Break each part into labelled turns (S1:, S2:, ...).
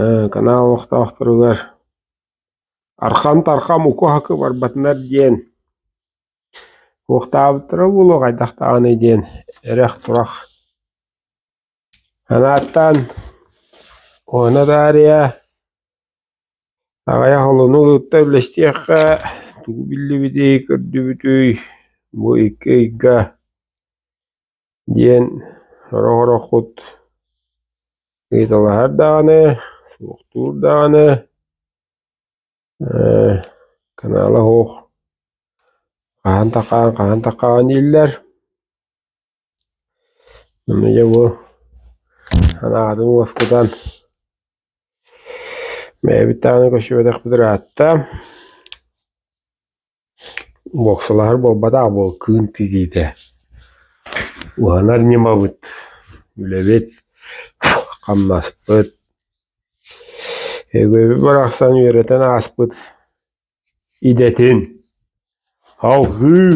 S1: Ээ, канаал олохтоохторугар «Архам-тархам укуһака барбатынар» диэн «Уохтаабыттара буолуо хайдах даҕаны» диэн эрэх-турах санааттаан уона таарыйа аҕыйах олону тутта үллэстиэххэ тугу биллибитий, көрдүбүтүй, бу икки ыйга диэн сорох-ороххут ыйыталаһар даҕаны, суохтуур даҕаны ээ канаала оһох хаһан таххаан хаһан таххаҕын дииллэр. Аны дьэ бу санааҕытын уоскутан бэйэбит даҕаны көччүбэтэхпит ыраатта. Боксалаһар буолбатах буол кыын тириитэ, уһанар ньымабыт, үлэбит, хамнаспыт, өйөбүл барахсан үөрэтэн ааспыт идэтин салҕыы,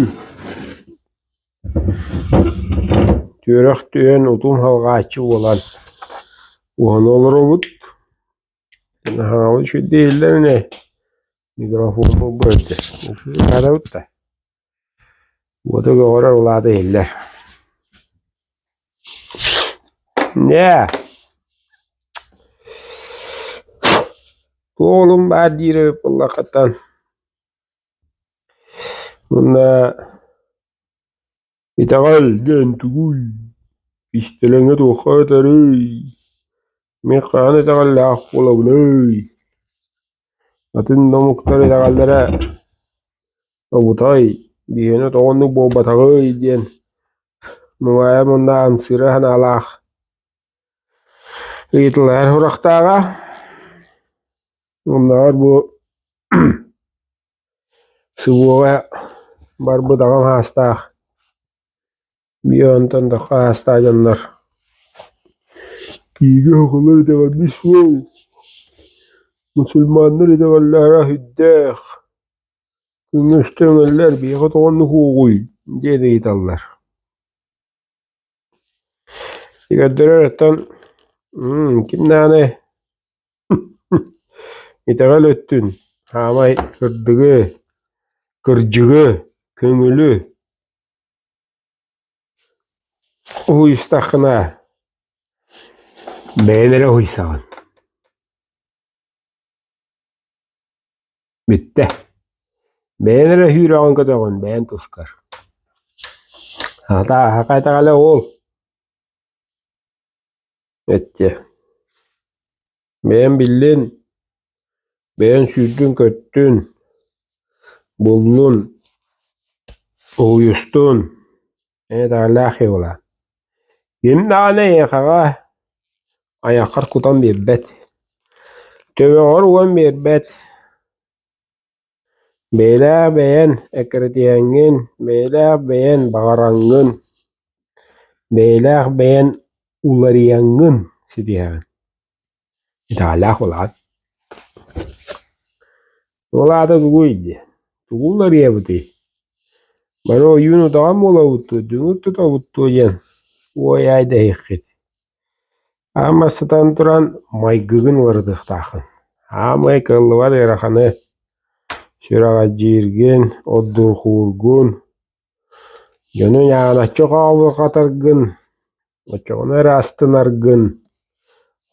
S1: түөрэх түһэн утум салҕааччы буолан уһана олоробут. Наһааҕы үчүгэйдик иһиллэрин ээ, микрофон булбу өлдө, арабыт да, уоту көҕөрөр улаата иһиллэр. Ньээ, уолум баар диир эбит буоллаххытан, мунна Итэҕэл диэн тугуй, истилэҥҥэ туохха этэрий, мин хаһан итэҕэллээх буолабыный, атын да омуктар итэҕэллэрэ тобутай, биһиэнэ тоҕо оннук буолбатаҕый диэн Нугая манна амсыыра санаалаах ыйыталаһар сурахтааҕа. Умнубат бу Субуоҕа барбыт аҕам аастаах, биир онтон тахха аастаах дьоннор бииргэ оҕолор итэҕэлбит суох, мусульманнар итэҕэллэрэ сүрдээх, күҥҥэ өстө үҥэллэр, биһиэхэ тоҕо оннук уоҕуй? диэн ыйыталлар. Сигэрдэри ырытан ким даҕаны итэҕэл өттүн саамай сырдыгы, кырдьыгы, көҥүлү уһуйустаххына бэйэҥ эрэ уһуйсаҕын. Бүттэ. Бэйэн эрэ сүүрөҕүн көтөҕүн, бэйэн тускар. Хата, хайдаҕа уол? Эччэ. Бэйэм биллин, бэйэн сүүрдүн-көттүн, буллун, уһуйустун, Эйэлээх ыала Ким даҕаны эйиэхэҕэ айаххар кутан биэрбэт Төбөҕөр уган биэрбэт Бэйэлээх бэйэн эккирэтиһэҥҥин Бэйэлээх бэйэн баҕараҥҥын Бэйэлээх бэйэн уларыйаҥҥын ситиһэҕин Итэҕэллээх улахан. Ол аата тугуй дии, тугу уларыйабытый? Бары ойуун утаҕан буолабыттуу, дүҥүр тутобуттуу диэн уой-аай дэһиэххит. Аан бастатан туран, майгыгын уларытыахтааххын. Аамай кыаллыбат ыараханы сүрэҕэлдьииргин, оддурхуургун, Яны Яначчы хаалыхатаргын, оччоҕуна эрэ астынаргын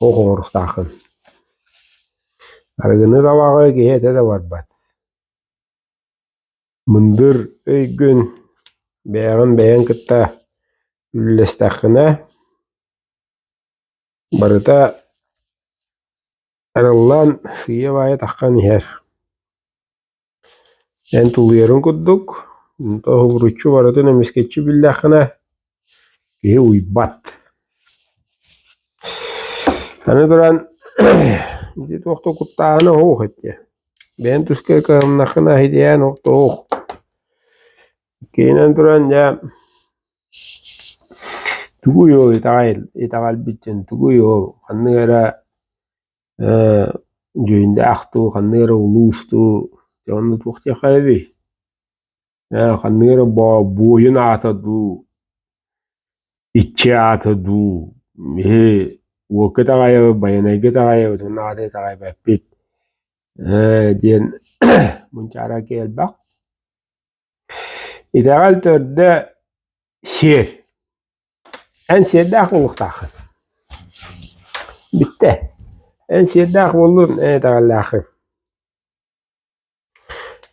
S1: оҕуруохтааххын. Арыгыны табаҕы киһи этэ да барбат. Мындыр өйгүн бэйэҕин бэйэҥ кытта үллэстэххинэ, барыта арыллан сыыйа-баайа таххан иһэр. Эн тулуйарын курдук, тоһугуруччу барытын эмискэччи биллэххинэ, киһи уйбат. Аны туран ити туох да куттааһына оһуох этэ. Бэйэҥ туска кыһамнаххына итийээн оһтоох. Иккиһинэн туран дьэ тугуй ол итэҕэл итэҕэлбиттэн тугуй ол ханнык эрэ дьүһүндээх дуу, ханна эрэ улуус дуу, дьэ онно туох диэххэ эбий? ханна эрэ буойун аата дуу, иччи аата дуу, биһи уокка итэҕэйэбит, байанайга итэҕэйэбит, онон аата итэҕэйбэппит диэн мунчаара киэлбэх. Итэҕэл төрдө сиэр. Эн сиэрдээх буолуохтаах. Бүттэ. Эн сиэрдээх буоллун эн итэҕэллээххин.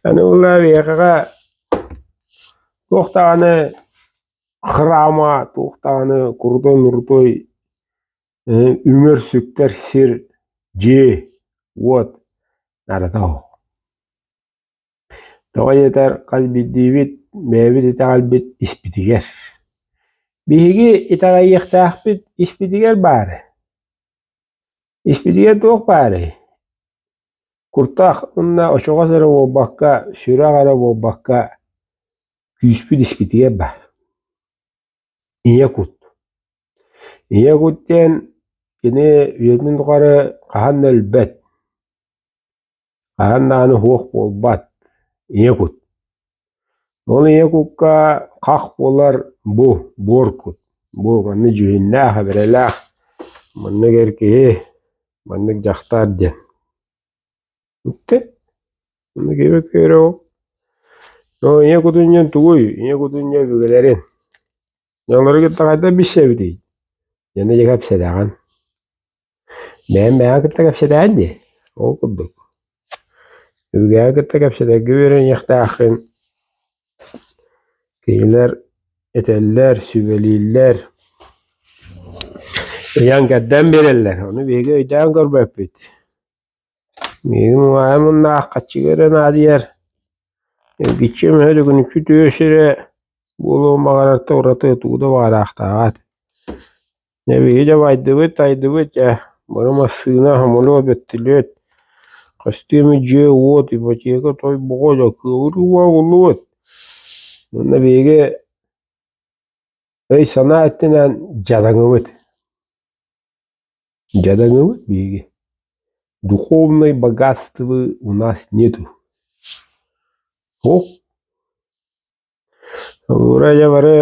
S1: Аны буолла биһиэхэҕэ туох даҕаны храма, туох даҕаны крутой-нрутой үҥэр, сүктэр сир, дьиэ, уот наадата суох. Тоҕо диэтэр, хас биирдиибит бэйэбит итэҕэлбит испитигэр. Биһиги итэҕэйиэхтээхпит испитигэр баары. Испитигэр туох баарый? Куртах уонна очоҕос эрэ буолбакка, сүрэх эрэ буолбакка, күүспүт испитигэр баар. Ийэ кут. Ийэ кут диэн кини үйэтин тухары хаһан да өлбөт. Хаһан даҕаны суох буолбат, ийэ кут. Ол ийэ кукка хах буолар бу, буор кут. Бу манны дьүһүннээх, эбэрэлээх, манныгар киһи, маннык дьахтар диэн. Үктэт, маннык ийэ көйрөҕүк. Оо, ийэ кутунньан тугуй? Ийэ кутунньа өбүгэлэрин. Дьонлору кытта хайда билсэбитий? Дьэни дьэ кэпсэтэҕин. Бэйэм бэйэҕэ кытта кэпсэтээҥ дии? Ол курдук Өбүгэҕэ кытта кэпсэтэргэ үөрэниэхтээххин кинилэр этэллэр, сүбэлииллэр, ыйан-кэрдэн биэрэллэр. Ону биһиги өйдөөн көрбөппүт Миигин угаайым муннааххаччыга эрэ наадыйар, эргиччи эмэһэ да күнүччү тыа сирэ буолуон баҕарарта ураты туу да баҕараахтааҕа. Дьэ биһиги да байдыбыт, тайдыбыт, ээ бары массыына, хомолуос, бөттөлүөт, көстүөмү дьиэ, уот, ипотека, той, боҕо да кыылы-уо буллубут. Манна биһиги өй-санаа өттүнэн дьадаҥыбыт. Дьадаҥылы биһиги, духовной богатствы у нас нету. Ол Ырайа бары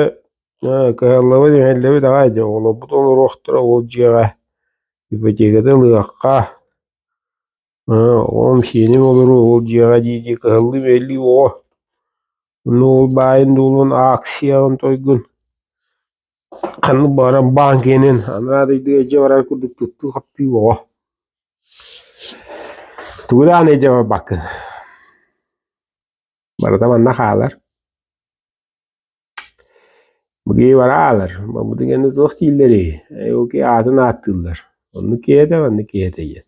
S1: кыһаллыбыт иһэллибит аҕай дьэ оҕолорбут олоруохтара ол дьиэҕэ ипотекатын ылыахха Оҕом сиэним олору ол дьиэҕэ дии-дии кыһаллыы-биэллии оҕо Онно ол баайын-дуолун ааксыйаҕын тойгун ханнык баҕарар баанкиэнэн анараа дойду эдьэ барар курдук туттуу-хаптыы оҕо Тугу даҕаны эдьэ барбаккын барыта манна хаалар Быгыйбара аалар, бабытыганы туох дииллэрий, эуки аатын ааттыыллар, онну киэһэтэ, манна киэһэтэ диэн.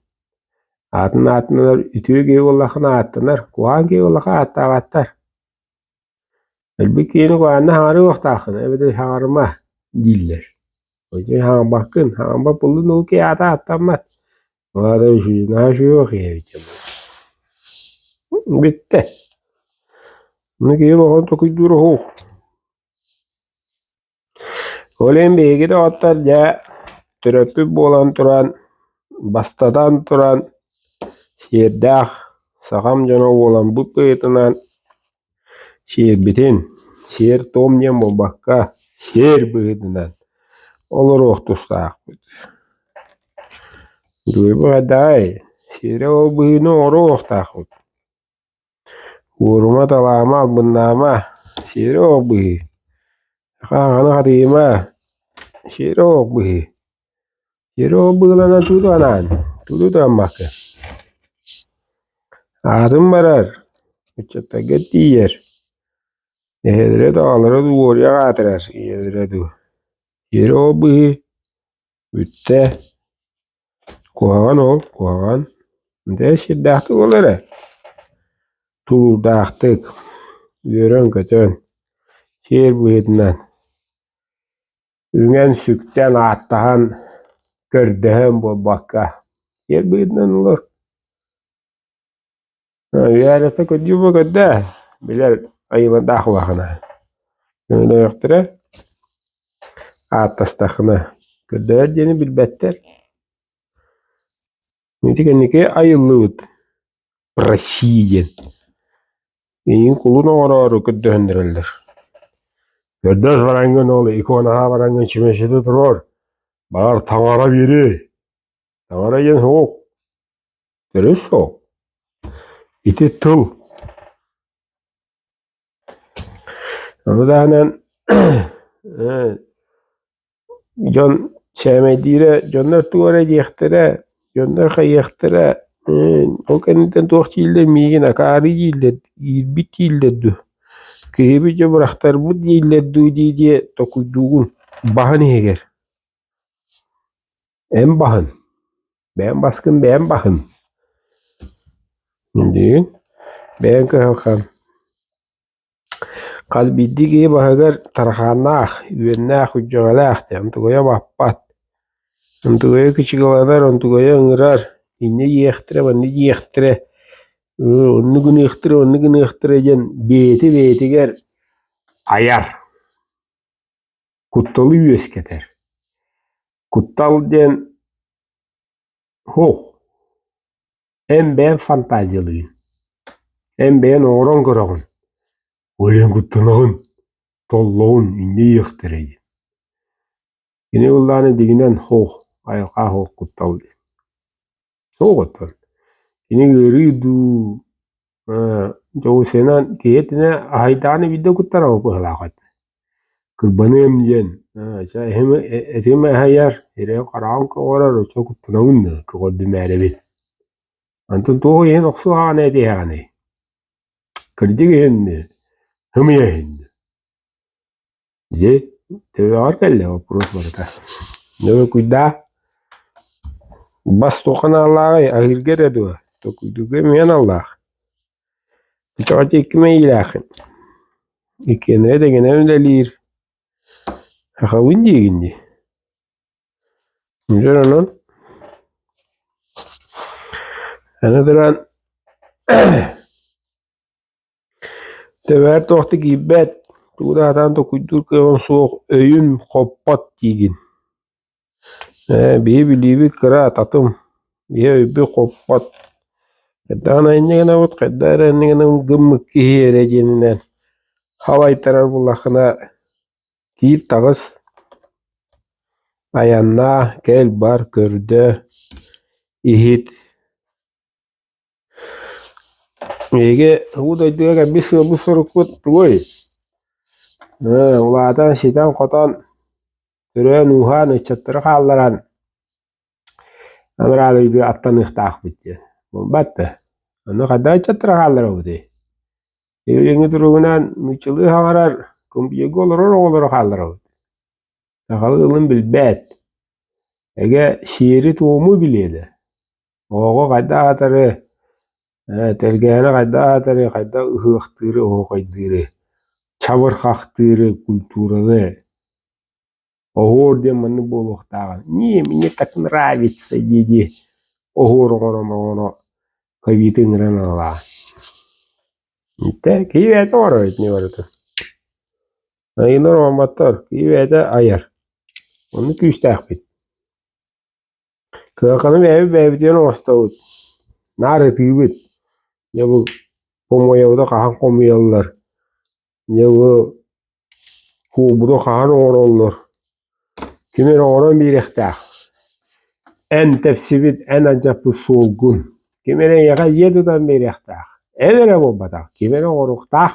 S1: Аатын ааттанар үтүө киһи буоллаххына ааттанар, куһаан киһи буоллахха ааттаабаттар. Өлбүт киһини куһаанна хаҥарыылахтааххына эбэтэр хаҥарыма дииллэр. Ити хаҥарбаккын, хаҥарбат буоллун ол киһи аата ааттаммат. Ваада үчүгүнэҕэ суох ийэбитэ буолуо Бүттэ. Ну киһи оҕону токуйдуур уһуох. Ол иһин биһиги доҕоттор дьэ төрөппүт буолан туран бастатан туран сиэрдээх сахам дьоно буолан бу кыытынан Сиэрбитин, сиэр-туом диэн буолбакка, сиэр быһыытынан олоруох тустаахпыт. Дуйбуйдаай, сиэрэ ол быһыыны оҥоруохтаахпыт. Уорума, талаама, албыннаама, сиэрэ ол быһыы. Саха аҕаны хатыйыма, сиэрэ ол быһыы. Серова быылана тугу анаан, тугу туһаммаккын? Аатын барар, ыччаттарга тиийэр, эһэлэрэ даҕалара дуу уоруйах аатырар ийэлэрэ дуу. Серова быһыы, бүттэ, куһаҕан ол, куһаҕан. Дьэ сирдээхтик ол эрэ, тулуурдаахтык, үөрэн-көтөн, сиэр быһыытынан. үҥэн-сүктэн, ааттаһан, көрдөһөн буолбакка сиэр быһыытынан олор Виолетта көдьүүбэ көрдө билэр айыландаах улаахана өйдөөхтөрө ааттастахына көрдөрөр диэни билбэттэр ити кэнники айыллыбыт Россия диэн эйигин кулун оҥороору көрдөһүннэрэллэр. Көрдөс бараҥҥын ол иконаһа бараҥҥын чүмэчитэ туруор, баҕар таҥара биэри. Таҥара диэн суох. Төрүт суох. Ити тыл. Ону таһынан Дьон сээмэйдиирэ, дьоннор тугу эрэ диэхтэрэ, дьоннор хайыахтара, ол кэнниттэн туох дииллэр миигин акаарый дииллэр, иирбит дииллэр дуу, киһибит дьэ бырахтарбыт дииллэр дуу дии дии токуйдуугун баһын иһигэр. Эн баһын, бэйэм баскын бэйэм баһын. Диигин бэйэҥ кыһалҕан Хас биирдии киһи баһыгар тарахааннаах, үөннээх, күдьэҕэлээх диэн онтугуйа баппат, онтугуйа кычыгыланар, онтугуйа ыҥырар, инньэ иэхтэрэ, манна иэхтэрэ, онно гыныахтара, онно гыныахтара диэн бэйэтэ бэйэтигэр айар, кутталы үөскэтэр. Куттал диэн Оһох, эн бэйэҥ фантазиялыыгын, эн бэйэҥ оҥорон көрөҕүн, өлөн куттанаҕын, толлоҕун инньэ диэхтэрэ дии. Кини былаана дьиҥинэн оһох, айылҕа оһох куттал диэн. Тоҕо оттон кини ыарыы дуу, Дьоҕусунан киһи итинэ аһайдаҕына биирдэ куттанабыт быһыылаах эт. Кырбаныам диэн этим аһайар, ирэ хараҕым көҕөрөр оччо куттанабын да көҕөрдүмээрэбин. Онтон туох иһин охсуһаҕыный этиһэҕиний? Кырдьык иһин дии, һымыйа иһин дии. Дьэ, төбөҕөр кэллэ боппуруос барыта. Нөҥүкүйдаа бас туох аналлааҕый? Аһыырга эрэ дуо? Төкүйдүүргэ эмиэ аналлаах. Кэчэҕэ кимэ иилээххин? Иккиэнэрэ дэгэнэн үлэлиир. Сахабын диигин дии. Дьэ онон аны туран Тэбээр туохта киирбэт, тугу да сатаан токуйдуур кыаҕым суох, өйүм хоппот диигин Ээ, биһи билиибит кыра ататым, биһи өйбүт хоппот Хайдаан айанньа гынабыт, хайдах эрэ анньа гынабын гыммыт киһи эрэ диэнинэн халайтарар буоллаххына киир таҕыс, айаннаа, кэл, бар, көрдөө, иһит Эһиги уу дойдуга кэлбит сыалбыт-сорукпут тугуй? Ээ, улаатан, ситэн-хотон, төрөөн-ууһаан, ыччаттары хаалларан, анараалыйдыы аттаныахтаахпыт диэн. Буолбат да? Ону хайдах ыччаттары хаалларабытый? Илиҥҥи туругунан нууччалыы хаҥарар, компьюга олорор оҕолору хаалларабыт. Сахалыы ылын билбэт. Эгэ, сиэри-туому билиэ да. Оҕо хайдах аатыры, э, тэлгэһэни хайдах аатыры, хайдах ыһыахтыыры, оһуохайдыыры, чабырхахтыыры, культураны оһуор диэн маннык буолуохтааҕын «не, мне так нравится» дии-дии оһуор оҥоро оҥоро ковиды ыҥыран ылаа. Итэ киһи бэйэтэ оҥоро итини барыта. Айыынар оҥорботтор, киһи бэйэтэ айар. Оннук күүстээхпит. Кыһалҕаны бэйэбит-бэйэбитигэр оҥостобут, наар ытыыбыт. Дьэ бу хомуойабыты хаһан хомуйаллар, дьэ бу куубуну хаһан оҥороллор, ким эрэ оҥорон биэриэхтээх. Эн тэпсибит, эн алдьаппыт суолгун, ким эрэ эйиэхэ дьиэ тутан биэриэхтээх. Эн эрэ буолбатах, ким эрэ оҥоруохтаах.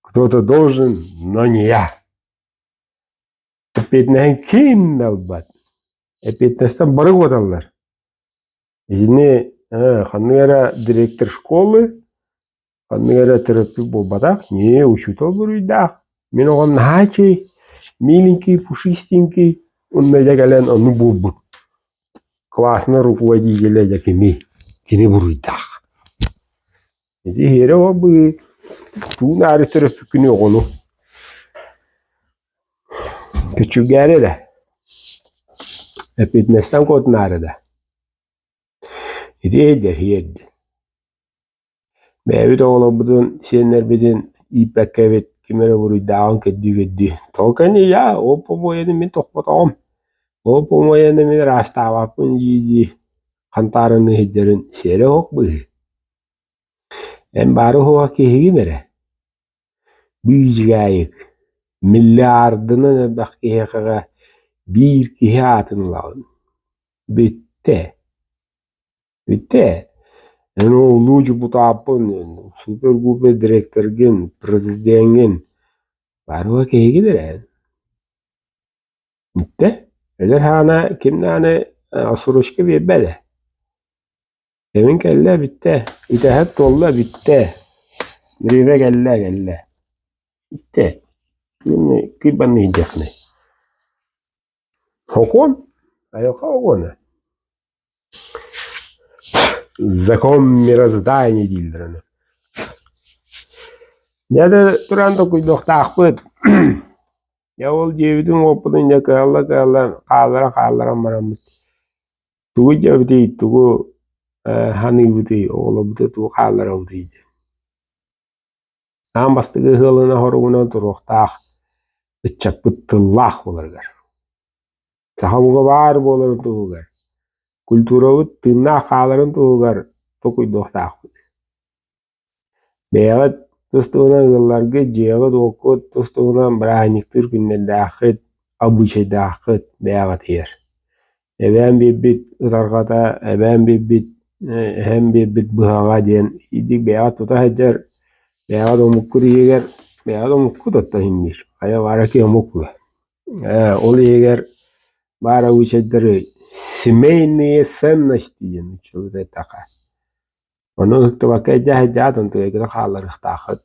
S1: Кто-то должен, но не я. Эппиэтинэһин ким да ылбат. Эппиэтинэстэн бары куоталлар. Итини ханнык эрэ директор школы, ханнык эрэ терапевт буолбатах, не, учетов буруйдаах. Мин оҕом наһаа чэй, миленький, пушистенький, онно дьэ кэлэн ону буолбут. Классно руководителя дьэ кими, кини буруйдаах. Ити иһиэрэ ол быһыы туун аары төрөппүккүнүй оҕону күчүгээри да эппиэтинэстэн куотунаары да ити өйдөһүөр диэн бэйэбит оҕолорбутун сиэннэрбитин ииппэккэ эбит ким эрэ буруйдааҕын көрдүү-көрдүү толку ини я ол помояны мин тохпотоҕум ол помояны мин ыраастаабаппын дии-дии хантаарыныы сылдьарын сиэрэ оһох быһыы Эн баары оһоҕо киһигин эрэ, биижигаайык, миллиардынан элбэх киһиэхэҕэ биир киһи аатын ылаҕын. Бүттэ. Бүттэ. Эн оҕолуу дьокутааппын, супер-гупер дириэктэргин, президеҥҥин, баары оһоҕо киһигин эрэ эн. Бүттэ. Эдэр аана, ким даҕаны сорочка биэрбэт ээ. Эбиҥ кэллэ бүттэ, итэһэт туолла бүттэ, древэ кэллэ кэллэ, бүттэ, мин кыйбанна иһдиэхинэй. Сокуон? Айылҕа оҕоно. Закон мироздания дииллэр аны. Дьэ да тураан толкуйдуохтаахпыт Дьэ ол дьиэбитин уоппутун дьэ кыһалла-кыһаллан хаалларан-хаалларан бараммыт. Тугу дьэбитий, тугу э, саныыбытый, оҕолорбуту тугу хаалларабытый дии. Аан бастакы ыһыалына хоругунан туруохтаах ыччаппыт тыллаах буоларыгар. Саха буга баар буоларын туһугар, культурабыт тыыннаах хааларын туһугар токуйдуохтаахпыт. Бэйэҕит тус туһунан ылылларгыт, дьиэҕит-уоккут тус туһунан бырааһынньыктыыр күннэрдээххит, обычайдааххыт бэйэҕитигэр. Эбээм биэрбит ытарҕата, эбээм биэрбит эһэм биэрбит быһаҕа диэн итинник бэйэҕит тута сылдьар, бэйэҕит омуккут иһигэр, бэйэҕит омуккут оттон иһинниир, хайа бааракий омук буолуо. Ээ ол иһигэр баар обычайдары семейные ценности диэн ыччаты эттэххэ Ону ыһыктыбакка эдьээһэйдээх дымтыайгына хаалларыахтааххыт.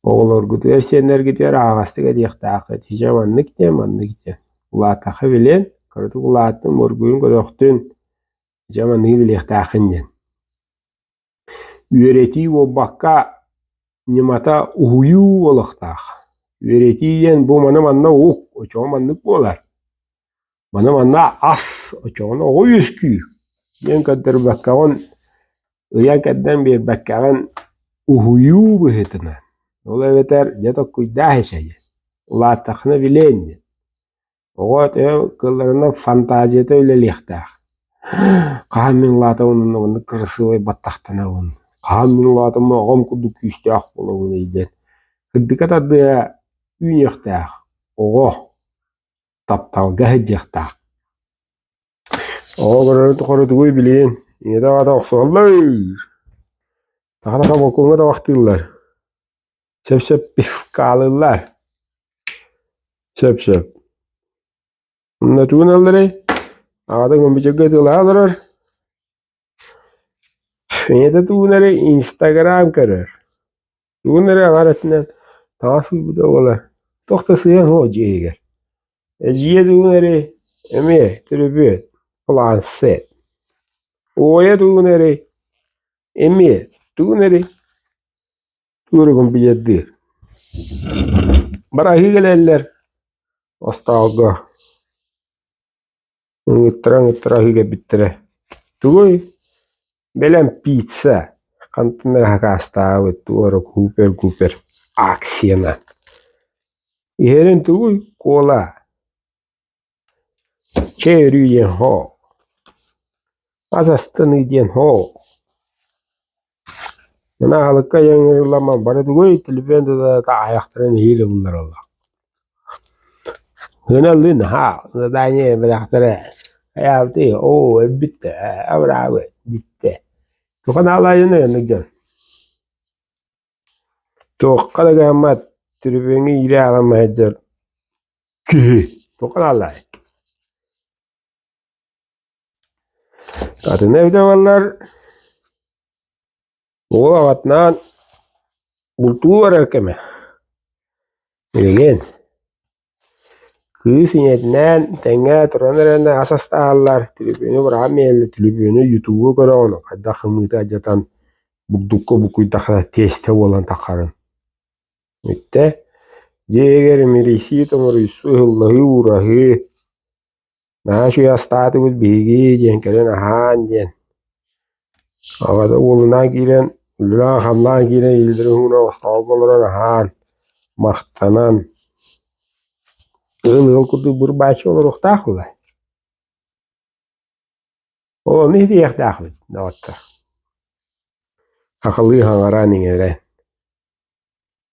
S1: Оҕолоргутугар, сиэннэргитигэр аһаҕастык этиэхтээххит. Һичэ маннык диэн, маннык диэн. Улаатахха билиэн, кыратык улааттын, моргуйун, көтөхтүн. Һичэ манныгы билиэхтээххин диэн. Үөрэтии буолбакка, ньымата уһуйуу буолуохтаах. Үөрэтии диэн бу маны манна уһук, очоҕо маннык буолар. Маны манна ас, очоҕуна оҕо үөскүүр. Диэн көрдөрбөккөҕүн, ыйан кэрдэн биэрбэккэҕин уһуйуу быһыытынан. Ол эбэтэр дьэ tokkуйдаа эчэйэ. Улааттаххына билээн диэн. Оҕо төһө кылларынан фантазията үлэлиэхтээх. Хаһан мин улаатабын онно маннык кырасыабай баттахтанабын. Хаһан мин улаатаммын оҕом курдук күүстээх буолабын диэн. Үрдүкэ тардыа үүнүөхтээх оҕо тапталга сылдьыахтаах Оҕо олорору тухары тугуй билигин ийэтэ-аҕата охсуһаллар. Тахан аха волкуҥҥа да вахтыыллар. Сөп-сөп хаалыыллар. Сөп-сөп. Мына тугун алларай? Аҕата гомбичекка ытылаһа олорор. Ийэтэ тугун эрэ инстаграм көрөр, тугун эрэ амар өттүнэн таҥас ылбыта буолар, туох да сыһыан суох дьиэ иһигэр. Эдьиийэ тугун эрэ эмиэ төлөпүөн, планшет. Уойа тугун эрэ эмиэ тугун эрэ туоругун билэрдиир. Бары аһыы кэлэллэр остоолго. Ыҥыттара-ыҥыттара иһилэрбиттэрэ тугуй? Бэлэм пицца хантан эрэ акаастаабыт туора купер-купер акцияна иһэрин тугуй куола чэй өрүү диэн һоо хас астыныы диэн һоо Мин аһылыкка ийэм ыйыллан барбата тугуй телефон тутата аһайахтара нэһиилэ буллараллар. Ыналыы наһаа задание бэлэхтэрэ айаабытый оо өлбүттэ ээ абыраабы бүттэ туха наалаайыны оннук дьон туохха да гыммат телефоҥҥа иирэ аһыллан сылдьар киһи туха наалаай Атын эбитэ уол аҕатынаан бултуу эрэр кэмэ. Билигин кыыс ийэтинээн тэҥҥэ туран эрэнэ ас астаһаллар, түлүпүөнү быраҕан биэрэллэр, түлүпүөнү ютубу көрөҕүн хайдах хымыыта алдьатан бурдукка букуйдаххына тиэстэ буолан таххарын. Бүттэ дьиэгэр мирийсии-томоруйсуу, ыһыллаһыы-уураһыы Наһаа үчүгэй астаатыбыт биһиги диэн кэлэн аһаан диэн. Аҕата уолунаан киирэн, үлэлээн-хамнаан киирэн илиилэрин уһугунан остообол олорон аһаан, махтанан, ыһын ыһын курдук быр-бааччы олоруохтаах дуу? Ону иһитийиэхтээхпит доҕоттор. Хахалыы хаҥаран, иҥэрэн.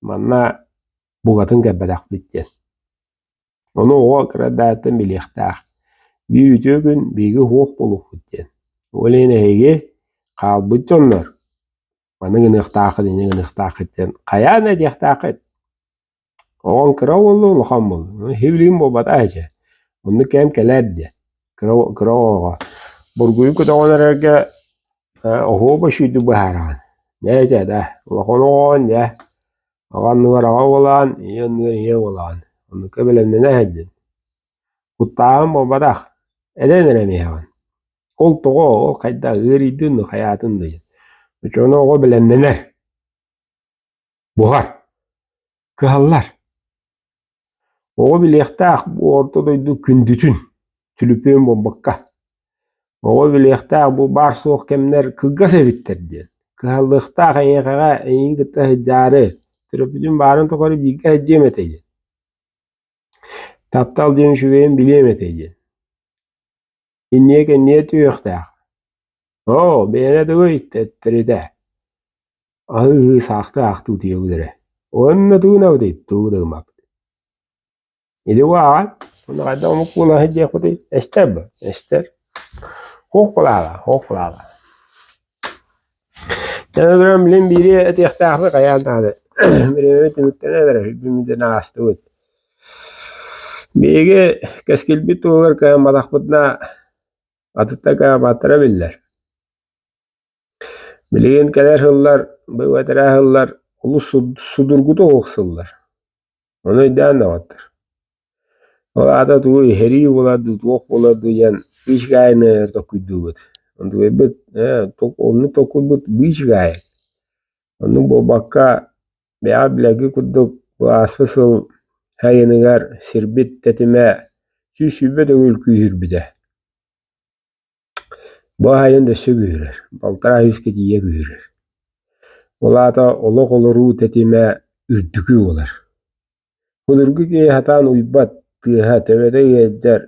S1: Манна букатын кэлбэтэхпит диэн. Ону оҕо кырадааттан билиэхтээх. Биир үтүө күн биһиги уһуох буолуохпут диэн. Ол иһин эһиги хаалбыт дьоннор маны гыныахтааххыт, ини гыныахтааххыт диэн хайаан этиэхтээххит? Оҕоҥ кыра буолла, улахан буолла. Иһи билигин буолбатах ээ дьэ. Оннук кэм кэлээр диэн. кыра оҕоҕо бургуйун көтөҕөн эрэргэ оһуоба үчүгэйдик быһаараҕын дьэ итэ да улахан оҕоҕун дьэ аҕа анныгар аҕа буолаҕын ийэ анныгар ийэ буолаҕын оннукка бэлэмнэнэ сылдьын куттааҕын буолбатах этэн эрэ эмиэҕин ол тоҕо ол хайдах ыарыйдын хайаатын дыйын оччоҕуна оҕо бэлэмнэнэр Буһар. Кыһаллар. Оҕо билиэхтээх бу орто дойду күндүтүн, түлүпүөн буолбакка. Оҕо билиэхтээх бу баар-суох кэмнэр кылгас эбиттэр диэн. Кыһаллыахтаах эйиэхэҕэ эйиҥ кытта сылдьаары, төрөппүтүн баарын тухары бииргэ сылдьыам этэ диэн. Таптал диэн үчүгэйин билиэм этэ диэн. Инньэ-кэнньэ түһүөхтээх. «Оо, бэйэнэ тугуй?» тэттэритэ, аһыы саахты аахтыы утуйабыт эрэ, уонна туунабытый тугу да гыммаппыт. Ити убааҕа, ону хайдах омук буолан сылдьыахпытый, эстэр бу, эстэр. Хуох булаала, хуох булаала. Төһө грамм лим биири этиэхтээхпин хайаан даҕаны бириэмэбин түмүктэнэн эрэр диэн аҕыстыбыт. Биһиги кэскилбит туһугар кыһамматахпыт да атыттан кыһамматтара биллэр. Билигин кэлэр сыллар бу бэтэрээ сыллар олус судургутук охсуллар. Ону өйдөөн доҕоттор, ол аата тугу иһэрии буолар дуу, туох буолар дуу диэн быыс гаайыны толкуйдуубут. Онтукайбыт оннук толкуйбут быыс гаайа. Оннук буолбакка, бэйэҕэ билэргэ курдук бу ааспыт сыл сайыныгар сирбит тэтимэ сүүс сүүрбэ төгүл күүһүрбүтэ. Бу аайын өссө күүһүрэр, балтараа үһүскэ тиийэ күүһүрэр. Ол аата олох олоруу тэтимэ үрдүкү буолар. Былыргы киһи сатаан уйбат, тыаһа төбөтө ыалдьар,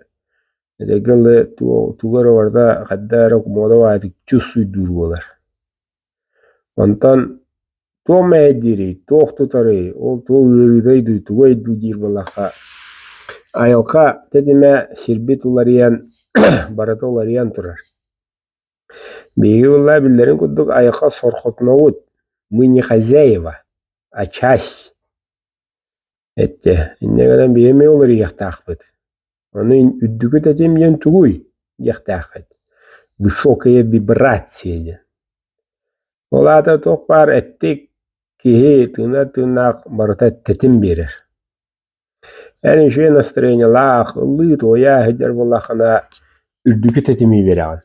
S1: этэҥҥэ тулу тугу эрэ барыта ханна эрэ кумуода баайытык чус уйдуур буолар Онтон туох мэһэйдиирий, туох тутарый, ол туох ыарыыдай дуу, тугуй дуу диир буоллахха, айылҕа тэтимэ сирбит уларыйан, барыта уларыйан турар. Биһиги буоллаҕа биллэрин курдук айылҕа сорҕотунобут, мы не хозяева, а часть. Иччи, инньэ гынан биһиги эмиэ уларыйыахтаахпыт. Аны үрдүкүт этим диэн тугуй? диэхтээххит. Высокая вибрация диэн. Ол аата туох баар эттик киһи тыына тыыннаах барыта тэтим биэрэр. Эн үчүгэй настроениелаах, ыллыы туойа сылдьар буоллаххына үрдүкү тэтими биэрэҕин.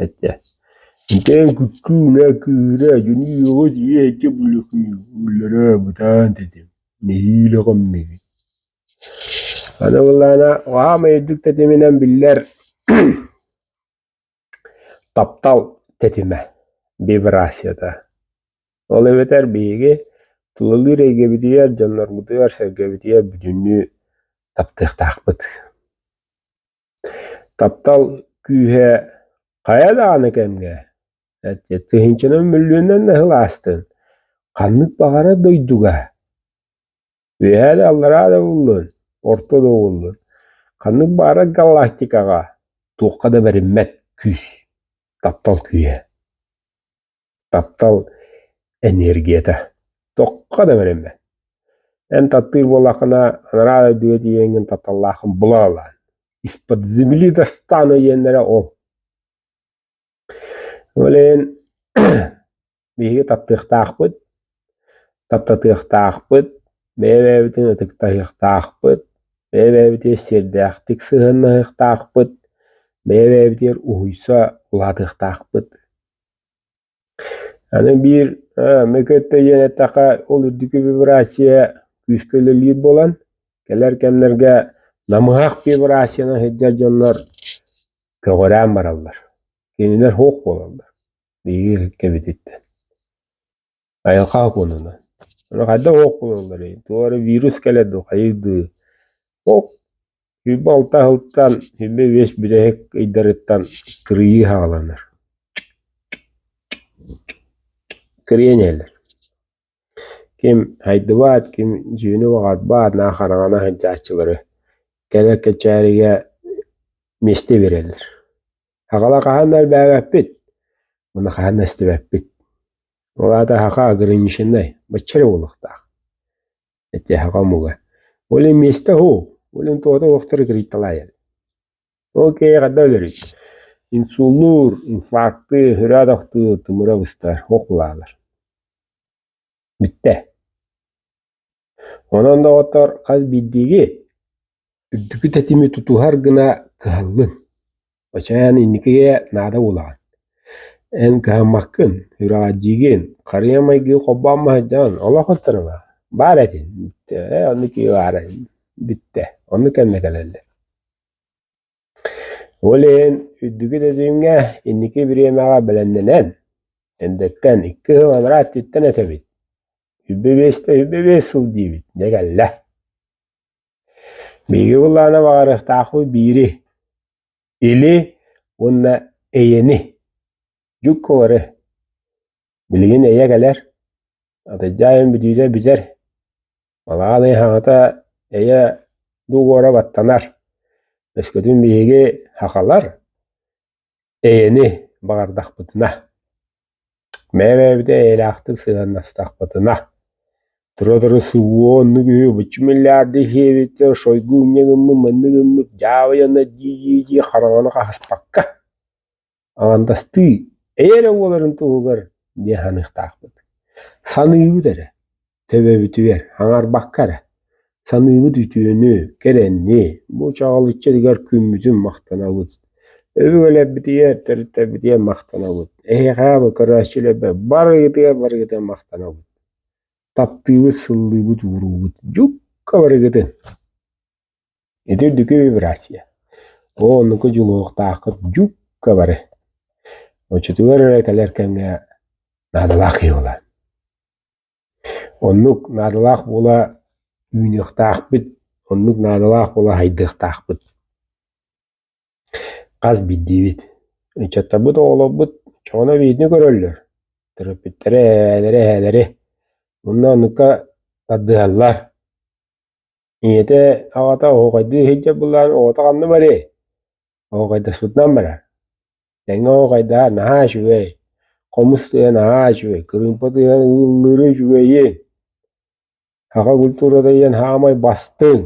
S1: этэ Ити күүнэ күүрэ дьүнүйүөҕү тиийээччи буллараа бытаан тэтим нэһиилэ хомнугүн Аны былаана хаамай үрдүк тэтиминэн биллэр таптал тэтимэ вибрацията Ол эбэтэр биһиги тулалыыр эйгэбитигэр дьоннорбутугар сэргэбитигэр бүтүннүү таптыахтаахпыт Таптал күүһэ хайа даҕаны кэмҥэ тыһыынчанан мөлүйүөннэн да сыл аастын, ханнык баҕарар дойдуга үөһээ да аллараа да буоллун, орто да буоллун, ханнык баара галактикаҕа туохха да бэриммэт күүс, таптал күүһэ. таптал эниэргийэтэ тохха да бэриммэт эн таптыыр буоллаххына анараа үрдүгэ тиийэҥҥин тапталлааххын була ылаан из-под земли достан өйүөннэрэ ол ол иһин биһиги таптыахтаахпыт таптатыахтаахпыт бэйэ-бэйэбитин ытыктаһыахтаахпыт бэйэ-бэйэбитигэр сиэрдээхтик сыһыаннаһыахтаахпыт бэйэ-бэйэбитигэр уһуйса улаатыахтаахпыт Аны биир эмиэ кытта диэн эттэххэ ол үрдүкү вибрация күүскэ үлэлиир буолан кэлэр кэмнэргэ намыһах вибрацияны сылдьар дьоннор көҕүрээн бараллар. Кинилэр суох буолаллар биһиги кэбититтэн Айылҕа окуонуна. Аны хайдах ох булалларый? Туох эрэ вирус кэлэр дуу, хайый дуу? Ох хүйбэ алта аһылтан, хүйбэ биэс бүтэһик ыйдарыттан кырыйыы саҕаланар. Кырыйан иһэллэр. Ким хайдыбат, ким дьүөнэ убаҕарбат, наа хараҥана сылдьааччылары кэлэр кэчээригэ миэстэ биэрэллэр. Аҕала хаһан да элбээбэппит, уонна хаһан да истибэппит. Ол аата аһаҕа ограниченнай, бачча эрэ буолуохтаах. Эти аһаҕа омуга. Олин миэстэ һуу, олин туота уохтары кырыйталаайал. Окей, хадда өлөрүт. Инсуллуур, инфаркты, өрөөт ахтыы, тымыра быстар, ох улаалар. Бүттэ. Онон, доҕоттор, хас биирдиги үрдүкү тэтими тутуһар гына кыһаллыҥ. Оччоон инникигэ наада буолаҕын. Эн кыһаммаккын, үрэҕирдиигин, харыйа майгы холбоон маһыйдаҕын олох ытырыла. Баар этин, бүттэ, оннук баара бүттэ, оннук кэннэ кэлэллэр. Ол иһин үрдүкү тэтимҥэ инники бириэмэҕэ бэлэмнэнэн, эндэттэн икки сыл анараа өттүттэн этэбит. Үббэбиэстэ үббэбиэс сыл диибит, дьэ кэллэ. Биһиги былаана баҕарыахтаахпыт биири, или уонна эйэни, дьукку бары. Билигин эйэ кэлэр, атыдьаайым бүтүүтэ бүтэр. Балаҕан хаҥата эйэ дугуора баттанар. Өскөтүн биһиги хахалар, Эйэни баҕардахпытына, бэйэ-бэйэбитэ эйэлээхтик сыһыаннастахпытына, тура-тура субу оннук үһү быччы миллиарды сиэбиттэр, шойгу умньа гыммыт, манна гыммыт, дьаабыйанна дии-дии-дии хараҥаны хаһыспакка, аҥардастыы эйэ эрэ буоларын туһугар диэн саныахтаахпыт. Саныыбыт эрэ. Төбөбүтүгэр аҥарбакка эрэ, саныыбыт үтүөнү, кэрэнни, бу чаҕыл иччитигэр күммүтүн махтанабыт, өбүгэлэрбитигэр, төрүттэбитигэр махтанабыт, эһиэхэ бу көрөөччүлэрбэ барыгытыгар барыгытын махтанабыт, таптыыбыт, сыллыыбыт, ууруубут дьукка барыгытын. Ити үрдүкү вибрация. Оо оннуку дьулуһуохтааххыт дьукка бары. Оччотугар эрэ кэлэр кэмҥэ наадалаах киһи буолаан. Оннук наадалаах буола үүнүөхтаахпыт, оннук наадалаах буола һайдыахтаахпыт. Хас биирдиибит, ыччаттарбыт оҕолорбут чоҕуна видео көрөллөр, төрөппүттэрэ эһээлэрэ эһээлэри, мунна оннукка тардыһаллар. ийэтэ аҕата оһоҕойдуу иһирдьэ буллаан оҕото ханна барыай оһоҕойдоспутунан барар тэҥҥэ оһоҕойдаа наһаа үчүгэй хомус тыа наһаа үчүгэй кырыымпа тыаһа ыыллыыры үчүгэйиин саха культурата диэн саамай бастыҥ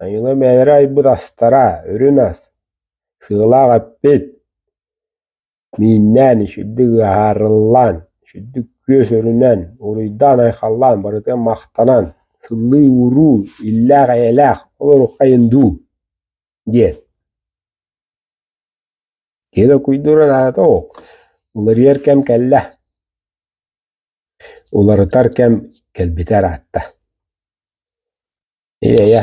S1: айыылар бэйэлэрэ айбыт астара үрүн ас сыалаах эппит Мииннээн, сүрдүк ыһаарыллаан, сүрдүк күөс өрүнэн, уруйдаан-айхаллаан, барытын махтанан, сыллыы-уруу, иллээх-эйэлээх, ол оруххайын дуу? диэн. Киһи докуйдура наада ол. Уларыйар кэм кэллэ. Уларытар кэм кэлбитэ ыраатта. Ийэ-эйэ.